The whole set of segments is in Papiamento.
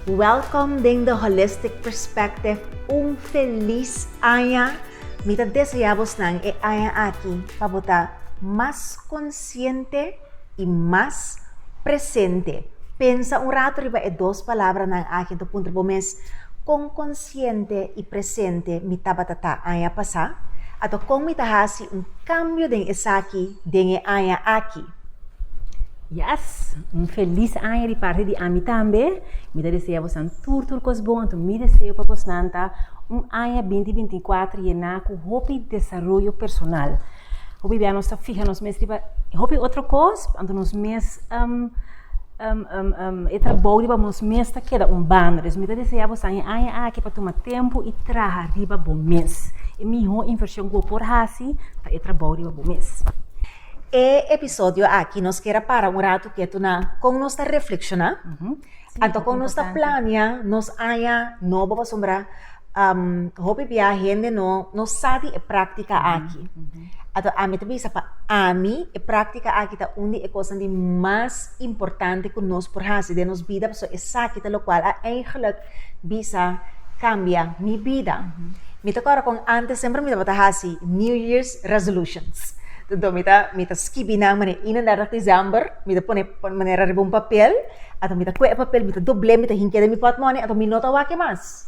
Welcome den The Holistic Perspective, un felis aña! Mi ta desea bosnan e aña aki pa bo ta mas konsiente i mas presente. Pensa un ratu riba e dos palabranan aki, i ta puntra bo mes, Kon konsiente i presente mi tabata ta aña pasá? Ato kon mi ta hasi un kambio den esaki? den e aña aki. Yes! Un felis aña di parti di ami tambe. Mi ta desea bosnan tur tur kos bon, anto mi deseo pa bosnan ta un aña binti binti i kuater yená ku hopi desaroyo personal. Hopi bia nos ta fiha nos mes riba hopi otro kos, anto nos mes. Um, um, um, e trabou riba nos mes ta keda un banda. Dus mi ta desea bosan e aña aki pa tuma tempu i traha riba bo mes. E mihó invershon ku bo por hasi ta e trabou riba bo mes. E episodio aki nos kier a para un ratu ketu na kon nos ta reflekshoná, anto kon nos ta planea nos aña nobo. Pasobra um hopi bia hende no no sa di e práktika aki. Ato ami ta bisa pa ami e práktika aki ta un di e kosnan di mas importante ku nos por hasi den nos bida, pasobra esaki ta lokual a eigelijk bisa kambia mi bida. Mi ta kòrda kon antes semper mi tabata hasi New Year's Resolutions. Enton mi ta mi ta skibi nan manera i nan dèrda desèmber, mi ta pone manera riba un papel, anto mi ta kue e papel, mi ta dobl'é, mi ta hink'é den mi pòtmone, anto mi no ta wak e mas.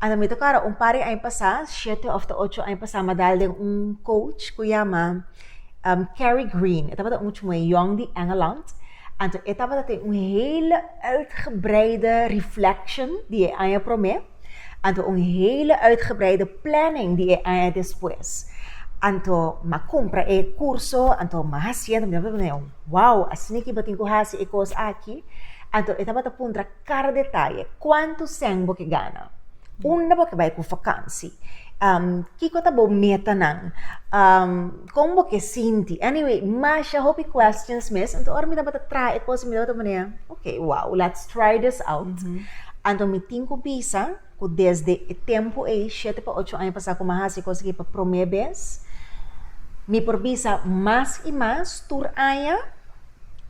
Ata mi ta kòrda un par di aña pasá, shete òf ta ocho aña pasá, mi a dal den un coach ku yama Kerry Green. E tabata un muchu moe yòn di Engeland. Anto e tabata ten un hele uitgebreide reflection di e aña promé. Anto un hele uitgebreide planning di e aña despues. Anto mi a kumpra e kurso, anto mi a hasi, anto mi tabata wòw, asina ke bo tin ku hasi e kos aki? Anto e tabata puntra. Kada detaye, kuantu sèn bo ke gana? Unda bo ke bai ku vakansi? Kiko ta bo metanan? Kon bo ke sinti? Anyway, masha hopi questions mes. Anto ora mi tabata traha e kos, mi tabata manera, ok, wow, let's try this out. Anto mi tin ku bisa. ku desde e tempu ei, shete pa ocho aña pasá ku mi a hasi e kos akí pa promé bes, mi por bisa mas i mas tur aña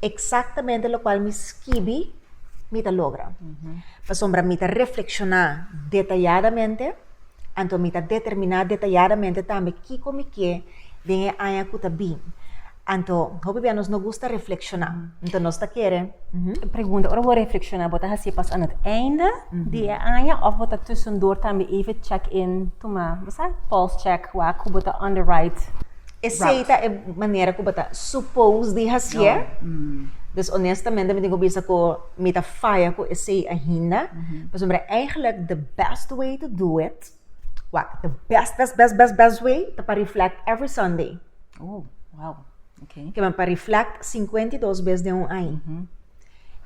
eksaktamente lokual mi skibi mi ta logra. Pasobra mi ta reflekshoná detayadamente, anto mi ta determiná detayadamente tambe kiko mi ke den e aña ku ta bin. Anto, hopi bia nos no gusta reflekshoná. Anto nos ta kere. Pregunta, Ora bo reflekshoná, bo ta hasié pas aan het einde di e aña òf bo ta tusendor tambe even check-in tuma, bo sa, pulse check wak ku bo ta on the right route? Esei ta e manera ku bo ta supos di hasié. Dus onestamente mi tin ku bisa ku mi ta faya ku esei ainda. Pasobra, eigentlik the best way to do it, What the best, best, best, best, best way ta pa reflect every Sunday. Oh, wow. Okay. Que men pa reflect 52 bes den un año. Mm-hmm.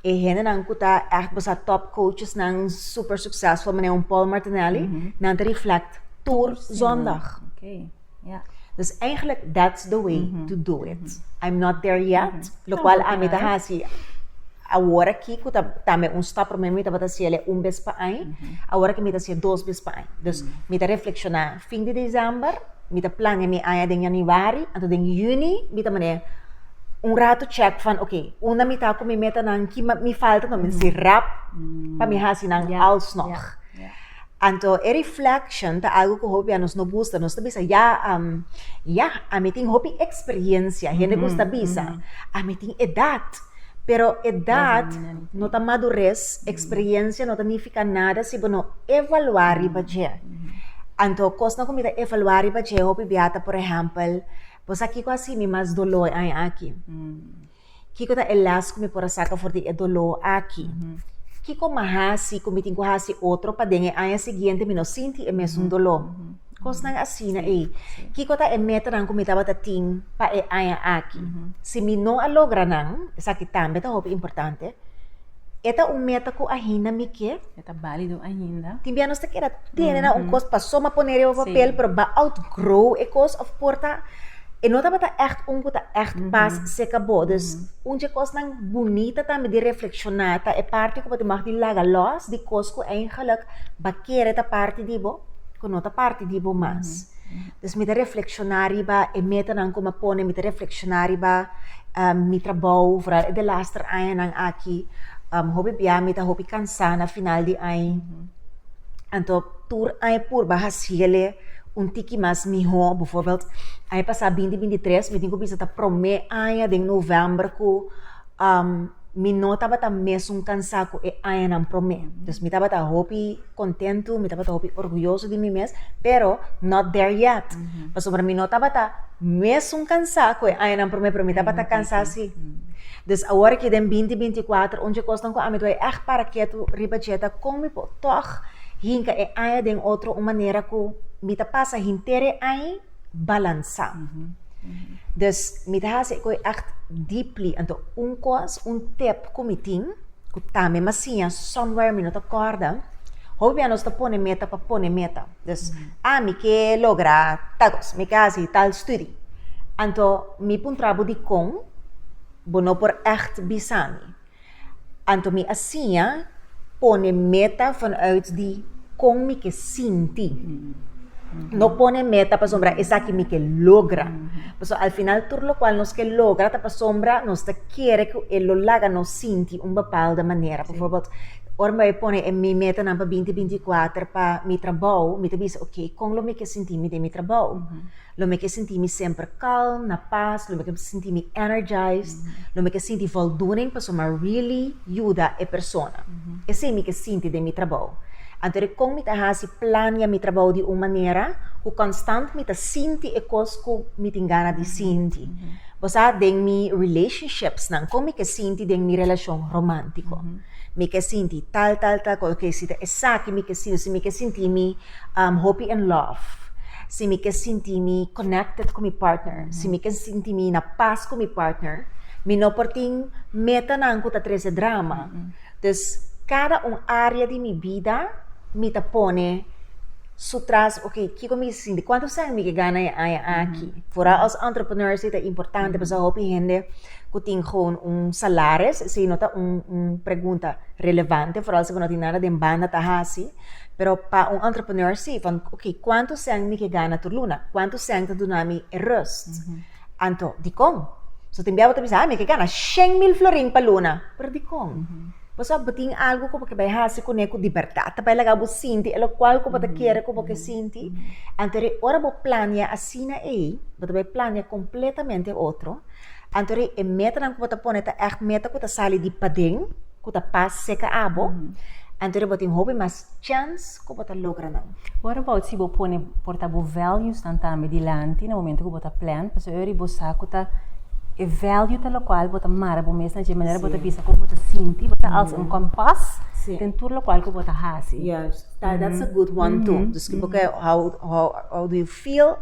E hende nan ku ta echt bosa top coaches nan super successful, meneer un Paul Martinelli, mm-hmm. nan te reflect tour zondag. Okay. Yeah. Dus eigenlijk, that's the way mm -hmm. to do it. Mm -hmm. I'm not there yet, mm -hmm. lo no, cual a mi ta hasi ahora ki ku ta tambe un stap prome mi ta bata siele un bes pa ai, mm -hmm. ahora ki mi ta sie dos bes pa ai. Dus mm -hmm. mi ta reflexiona fin de december, mi ta plania mi aña den januari, anto den juni mi ta mane un rato check van, ok, una mi ta ku mi meta nan ki mi falta, no, mm -hmm. mi si rap mm -hmm. pa mi hasi nan yeah. alsnog. Yeah. Yeah. Anto e reflection ta algo ku hopi a nos no gusta, nos ta bisa ya ya ami tin hopi eksperiencia, hende ku ta bisa ami tin edat, pero edat no ta madures, eksperiencia no ta nifika nada si bo no evalua riba dje, anto kosnan ku mi ta evalua riba dje hopi bia ta por ehèmpel bo sa kiko a hasi mi mas doló e aña aki? Kiko ta e lès ku mi por a saka for di e doló aki? Kiko mi a hasi ku mi tin ku hasi otro pa den e aña siguiente mi no sinti e mesun doló? Kosnan asina ei. Kiko ta e metanan ku mi tabata tin pa e aña aki? Si mi no a logra nan, esaki tambe ta hopi importante, E ta un meta ku ainda mi ke. E ta balido ainda. Tin bia nos ta keda tene nan un kos pa so ma pone riba papel, pero ba outgrow e kos òf por ta e no tabata ègt un ku ta ègt pas sek abou. Dus un dje kosnan bunita tambe di reflekshoná ta e parti ku bo tin wak di laga lòs di kos ku eigèlek ba kere ta parti di bo ku no ta parti di bo mas. Dus mi ta reflekshoná riba e metanan ku mi a pone, mi ta reflekshoná riba mi trabou, foral e delaster añanan aki, hopi bia mi ta hopi kansá na final di añ. Anto tur añ purba hasiéle un tiki mas mihó. Befòrbeldj, aña pasá binti bintitres mi tin ku bisa ta promé aña den novèmber ku mi no tabata mesun kansá ku e añanan promé. Dus mi tabata hopi kontentu, mi tabata hopi orguyoso di mi mes, pero not there yet. Pasobra mi no tabata mesun kansá ku e añanan promé, pero mi tabata kansá sí. Dus awor aki den binti binti i kuater, un djekosnan ku ami ta bai ègt para ketu riba dje ta kon mi por tòg hinka e aña den otro, un manera ku mi ta pasa henter e aña balansá. Dus mi ta hasi e koi ègt deeply. Anto un kos, un tip ku mi tin, ku tambe masiña somewhere mi no ta kòrda, hou bia nos ta pone meta pa pone meta. Dus, ah mi ke logra tal kos, mi ke hasi tal studi. Anto mi puntra bo dikon bo no por ègt bisa mi. Anto mi a siña pone meta vanuit di kon mi ke sinti. No pone meta pasobra esaki mi ke logra. Paso al final tur lokual nos ke logra ta pasobra nos ta kere ku e lo laga nos sinti un bepalde manera. Por ejemplo, ora mi bai pone e mi metanan pa binti binti i kuater pa mi trabou, mi ta bisa, oke, kon lo mi ke sinti mi den mi trabou? Lo mi ke sinti mi semper kalm, na pas, lo mi ke sinti mi energized, lo mi ke sinti voldoening pasobra mi a really yuda e persona. Esei mi ke sinti den mi trabou. Anto de kon mi ta hasi plania mi trabou di un manera ku konstant mi ta sinti e kos ku mi tin gana di sinti. Bo sa den mi relationships nan, kon mi ke sinti den mi relashon romántiko? Mi ke sinti tal tal tal cosa, ke si ta esaki mi ke sinti, si mi ke sinti mi hopi in love, si mi ke sinti mi connected ku mi partner, si mi ke sinti mi na pas ku mi partner, mi no por tin metanan ku ta trese drama. Dus kada un área di mi bida mi ta pone su tras, ok, kiko mi sinti, kuantu sèn mi ke gana e aña aki? Fora os entrepreneurs ei ta importante, pasá hopi hende. ku tin gewoon un salares, esei no ta un un pregunta relevante, foral si bo no tin nada den banda ta hasi, pero pa un entrepreneur si, van ok, kuantu sèn mi ke gana tur luna? Kuantu sèn ta duna mi e rust? Anto dikon? So tin bia bo ta bisa, ha mi ke gana shen mil florin pa luna, pero dikon? Pasobra bo tin algu ku bo ke bai hasi kuné ku di bèrdat ta bai laga bo sinti e lokual ku bo ta kere ku bo ke sinti, anto ora bo plania asina ei, bo ta bai plania kompletamente otro. Anto ri e metanan ku bo ta pone ta ègt meta ku ta sali di paden, ku ta pas seka abo, anto ri bo tin hopi mas chèns ku bo ta logra nan. Wòt abaut si bo pone porta bo vèlyusnan tambe dilanti na momentu ku bo ta plan? Pasobra ora bo sa ku ta e vèlyunan ta lokual bo ta mara bo mes na dje manera bo ta bisa kon bo ta sinti, bo ta alsa un kompas den tur lokual ku bo ta hasi. Yas, dat is a good one too. Dus ku bo ke hou hou hou di Feel,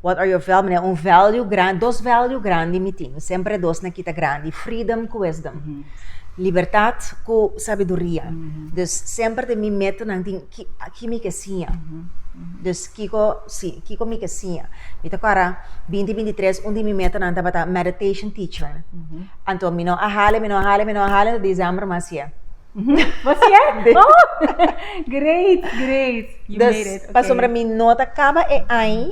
What are your val-, manera un value gran-, dos value grandi mi tin, mi semper e dos na kita grandi, freedom ku wisdom. Libertat ku sabiduria. Dus semper den mi metanan tin ki ki mi ke siña. Dus kiko, si, kiko mi ke siña. Mi ta kòrda binti binti tres un di mi metanan tabata meditation teacher. Anto mi no a hala, mi no a hala, mi no a hala, December mi a hasié. Was sier? Oh, great, great. You made it. Okay. Pasobra mi no ta kaba e ai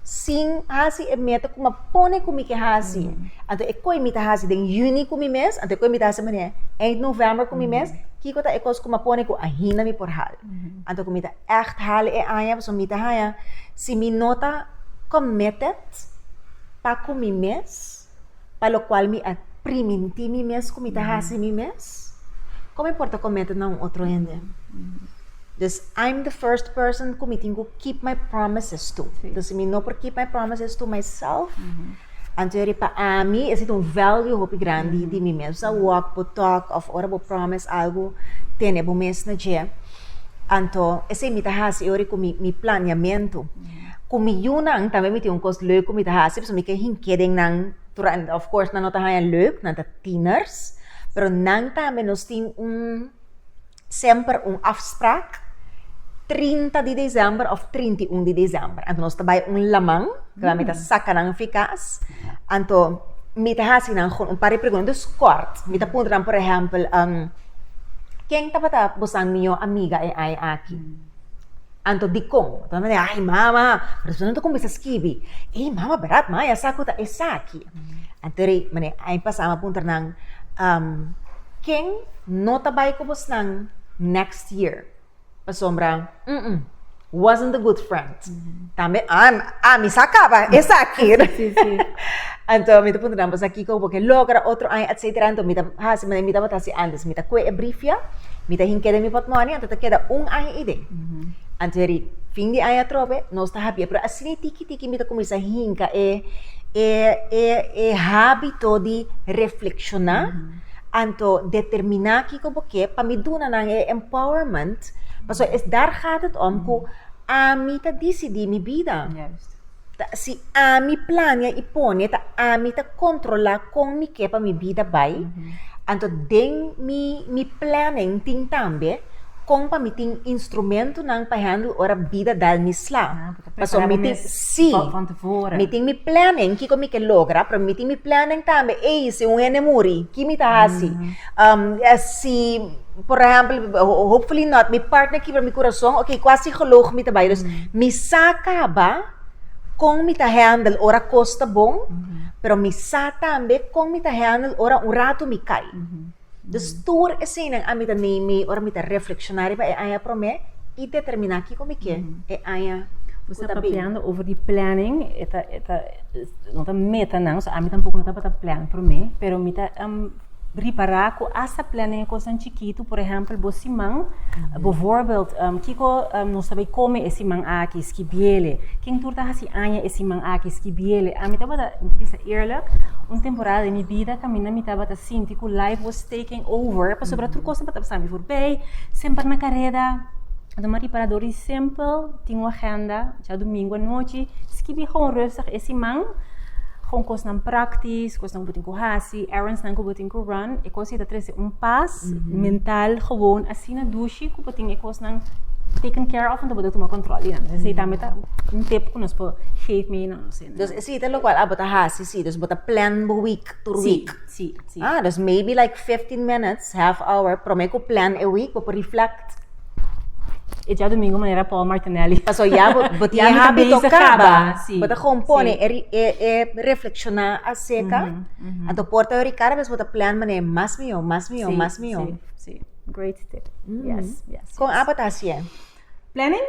sin hasi e meta ku ma pone ku mi ke hasi. Mm. Anto e koi mi ta hasi den Juni ku mi mes, anto e koi mi ta hasi manera eind November ku mi mm. mes, kiko ta e kos ku ma pone ku ahinda mi por hal. Mm-hmm. Anto ku mi ta echt hal e ai, pasobra mi ta haya si mi no ta committed pa ku mi mes, pa lokual mi a primintí mi mes ku mi ta hasi mi mes? Kon mi por ta komete na un otro hende? Dus I'm the first person ku mi tin ku keep my promises to. Dus si mi no por keep my promises to myself, antori pa ami esei ta un value hopi grandi di mi mes. Bo ta wòk, bo tòk òf ora bo promise algu, tene bo mes na dje. Anto esei mi ta hasi ora ku mi mi planeamentu. Ku mi yunan tambe mi tin un kos lèk ku mi ta hasi, pasobra mi ke hink'é den nan. Of course, nan no ta haña lèk, nan ta tiener's, pero nan tambe nos tin un semper un afsprak trinta di desèmber òf trinta i un di desèmber. Anto nos ta bai un laman, kaminda mi ta saka nan fi kas. Anto mi ta hasi nan un par di pregunta, dus kòrt. Mi ta puntra nan, por ehèmpel, ken tabata boso amigo o amiga e aña aki? Anto dikon? Bo ta nae, ay mama, persona no ta kuminsá skibi. Ey mama, brat maya, ya sa ku ta esaki. Anto rei mane ay pasaba a puntra nan, Ken no ta bai ku bosnan next year? Pasobra, wasn't a good friend. Tambe, ah, ah, mi sa kaba, e saki. Sí, sí. Anto, mi ta punta nan, pues aki ko boke logra otro año, et cetera. Anto, mi ta hasi, mi ta bota hasi antes. Mi ta kue e briefia, mi ta hinkeda mi potmoni, anto ta keda un año i den. Anto yari, fin di año atrobe, nos ta habia. Pero asina tiki tiki mi ta kuminsá hinka e, e, e, e hábito di reflekshoná. Anto determiná kiko bo ke pa mi duna nan e empowerment, pasobra es dàr gaat het om ku ami ta disidí mi bida. Juist. Ta, si ami plania i pone, ta ami ta kontrolá kon mi ke pa mi bida bai. Anto den mi mi planning tin tambe kon pa mi tin instrumentunan pa handle ora bida dal mi sla. Pasobra mi tin, sí, mi tin mi planning kiko mi ke logra, pero mi tin mi planning tambe, ey, si un hende muri, ki mi ta hasi? si, por ehèmpel, hopefully not, mi partner kibra mi kurason, oké, kua sigolog mi ta bai? Dus, mi sa kaba kon mi ta handle ora kos ta bon, pero mi sa tambe kon mi ta handle ora un ratu mi kai. Dus tur eseinan ami ta nei mei ora mi ta reflekshoná riba e aña promé i determiná kiko mi ke e aña ku ta bin. Papiando over di planning, e ta e ta no ta metanan, so ami tampoco no tabata plan promé, pero mi ta ripará ku asta planning e kosnan chikitu, por ehèmpel bo siman, bo voorbeeld kiko nos ta bai kome e siman aki, skibiele, ken tur ta hasi aña e siman aki, skibiele, ami tabata bisa eerlijk un temporada den mi bida kaminda mi tabata. Sinti ku life was taking over, pasobra tur kosnan pa ta pasáme forbei, semper na kareda. Don Maria para dori simpel, tin un agenda, dja dumingu anochi, skibi hou rustig e siman, hou kosnan praktis, kosnan ku bo tin ku hasi, errandsnan ku bo tin ku run, e kos ei ta trese un pas mental gewoon asina dushi ku bo tin e kosnan taken care of anto bo ta tuma kòntròl di nan. Esei tambe ta un tip ku nos por geef mee na nos hende. Entonces esei ta lokual abo ta hasi, si. Bo ta plan bo week, tur week. Sí, sí. Ah, dus maybe like 15 minutes, half hour, prome ku plan e week, bo por reflect. E dia domingo manera Paul Martinelli. Paso ya, bo, bo tiene ya habito kaba. Sí, bo ta compone, sí. e, e, e reflexiona acerca. Mm -hmm. Anto porta yo Ricardo, bes bo ta plan mane, mas mio, mas mio, sí, mas mio. Sí, sí. Great tip. Mm. Yes, yes, yes. Kon apa ta haciendo? Planning,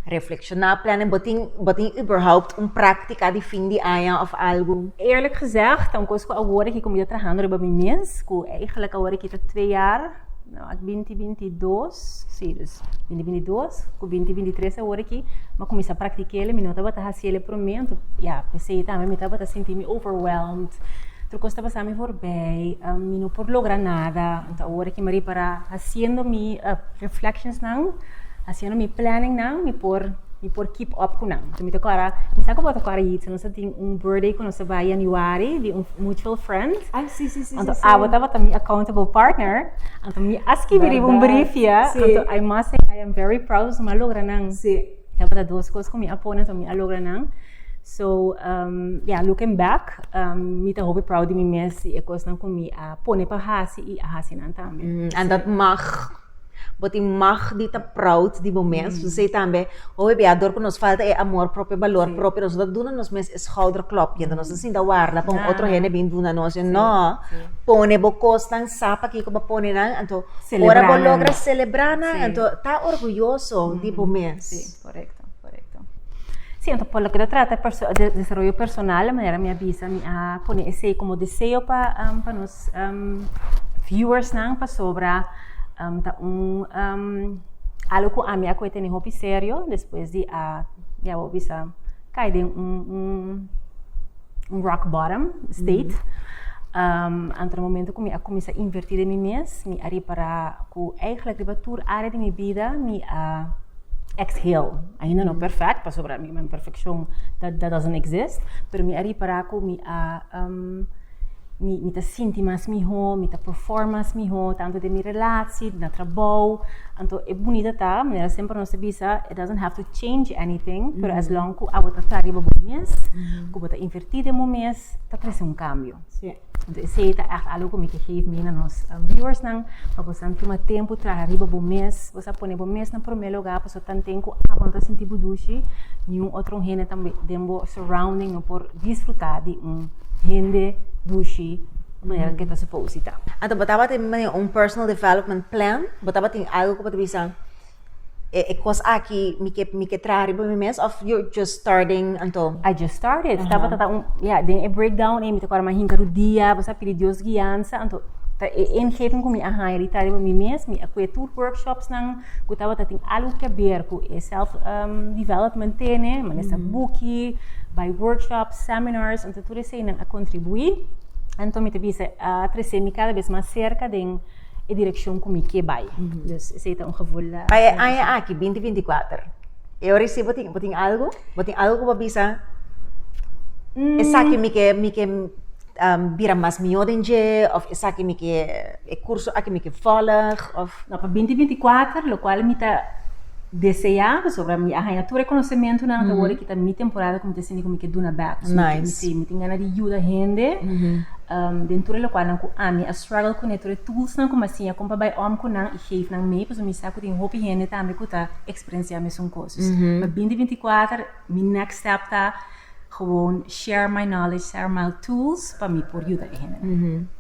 Reflecciona planning, bo tin bo tin überhaupt un práctica di fin di aña of algo? Eerlijk gezegd, ta un cos cu awor aki como yo trahando riba mi mes, cu eigenlijk awor aki ta twee jaar, no, ak binti binti dos, sí, dus binti binti dos cu binti binti tres awor aki, m'a cuminsa practic'ele, mi no tabata haciele p'e momento, ya, p'esei tambe mi tabata sinti mi overwhelmed, tur cos ta pasami forbij, mi no por logra nada. Ta ora ki mi a repará, hasiendo mi reflectionsnan, hasiendo mi planningnan, mi por mi por keep up ku nan. So mi ta kòrda, mi sa ku bo ta kòrda Yeats, nos a tin un birthday ku nos a bai yanüari di un mutual friend. Ai, sí, sí, sí, sí, Anto sí. abo tabata mi accountable partner, anto mi a skibi riba un Bèrdad, brifia, sí. anto I must say I am very proud, nos a logra nan. Sí. Tabata dos cos cu mi a pone, so mi a logra nan. So, um, yeah, looking back, um, mi ta hopi proud di mi mes y e cosnan cu mi a pone pa hasi y a hasi nan tambe. Mm, and dat mag, boti mag di ta proud di bo mes. Mm. Say tambe, hopi bia dor cu nos falta e amor propio, valor sí. propio, nos ta duna nos mes e schouderklopje, mm. nos ta sinta warda pa un yeah. otro hende bin duna nos. Sí. No, sí. pone bo cosnan sa pakiko bo pone nan, anto ora bo logra celebra nan, anto ta orguyoso di bo mes. Sí, correcto, correcto. Sí, anto por lo que ta trata de desarrollo personal, la manera mi a bisa, mi a pone esey como deseo pa, pa nos viewers nan, pasobra ta un algo cu ami a coge tene hopi serio, despues di a, mi awor bisa, cay den un. un rock bottom state. Anto na momento ku mi a kuminsá invertí den mi mes, mi a ripará ku eigenlijk riba tur área di mi bida mi a exhale. Ainda no perfect, pasobra imperfekshon dat doesn't exist, pero mi a ripará ku mi a Mi mi ta sinti mas mihó, mi ta perform mas mihó, tantu den mi relaci, na trabou. Anto e bunita ta, manera semper nos ta bisa, it doesn't have to change anything, pero as long cu awo ta tra riba bo mes, cu bo ta inverti den bo mes, ta trece un cambio. Sí. Anto esey ta echt algo cu mi ke geef mee na nos viewers nan, pa bosan tuma tempo traha riba bo mes, Bo sa pone bo mes na promé lugá pasobra tanten ku abo no ta sinti bo dushi, niun otro hende tambe den bo surrounding no por disfrutá di un hende dushi manera ku e ta supos di ta. Anto bo tabata manera un personal development plan? Bo tabatin algu ku bo ta bisa, e kos aki mi ke mi ke traha riba mi mes òf yo just. starting anto I just started Aha. tabata ta un ja den e breakdown e mi ta kora ma hinka rudia bo sa pidi Dios guianza anto ta e ingeving ku mi a haña di tari pa mi mes mi a kue tur workshops nan ku tabata tin algu ke ber ku e self um, development tene manesa mm. buki by workshops seminars anto tur esei nan a contribuí anto mi ta bisa a uh, trese mi cada vez mas cerca den e direccion ku mi ke bai mm. dus esei ta un gevoel uh, pa e aña aki 2024 E ora i si bo tin, bo tin algu? Bo tin algu ku bo a bisa, esaki mi ke mi ke bira mas mihó den dje, òf esaki mi ke e kurso aki mi ke vòlg, òf? No, pa binti binti kuater, lokual mi ta deseá, pasobra mi a haña tur e konosementunan ta wòrdu ki ta mi temporada ku mi ta sinti ku mi ke duna bèk. Sí, mi tin gana di yuda hende den tur e lokualnan ku ami a struggle kuné, tur e toolsnan ku mi a siña kon pa bai om ku nan i geef nan mi, pasobra mi sa ku tin hopi hende tambe ku ta experiencia mesun cos. Dus, pa 2024, mi next step ta gewoon share my knowledge, share my tools, pa mi por yuda e hende.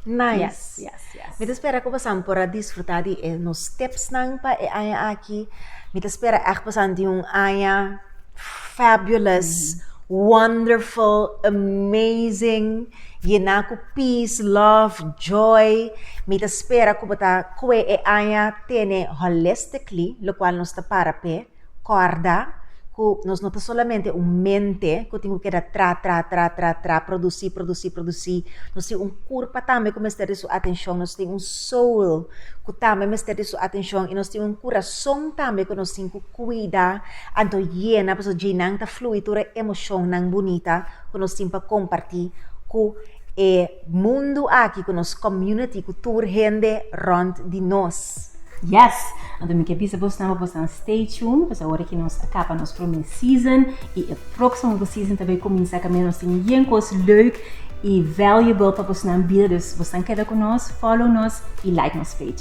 Nice. Yes, yes, yes. Mi ta spera ku pasan por a disfruta di e nos tipsnan pa e aña aki. Mi ta spera ègt pasan tin un aña fabulous, wonderful, amazing. Yená ku pis, lòf, jòy. Mi ta spera ku bo ta kue e aña tene holistically, lokual nos ta para p'e kòrda ku nos no ta solamente un mente ku tin ku keda tra, tra, tra, tra, tra, produsí, produsí, produsí. Nos tin un kurpa tambe ku mester di su atenshon, nos tin un soul ku tambe mester di su atenshon i nos tin un kurason tambe ku nos tin ku kuida. Anto yena pasobra dje nan ta flui tur e emoshonnan bunita ku nos tin pa kompartí ku e mundu aki, ku nos komuniti, ku tur hende rònt di nos. Yes! Anto mi ke bisa bos nan pa bos nan stay tuned pasobra awor aki nos a kaba nos promé season i e próksimo hopi season ta bai kuminsá kaminda nos tin yen kos leuk i valuable pa bos nan bida. Dus bos nan keda ku nos, follow nos i like nos page.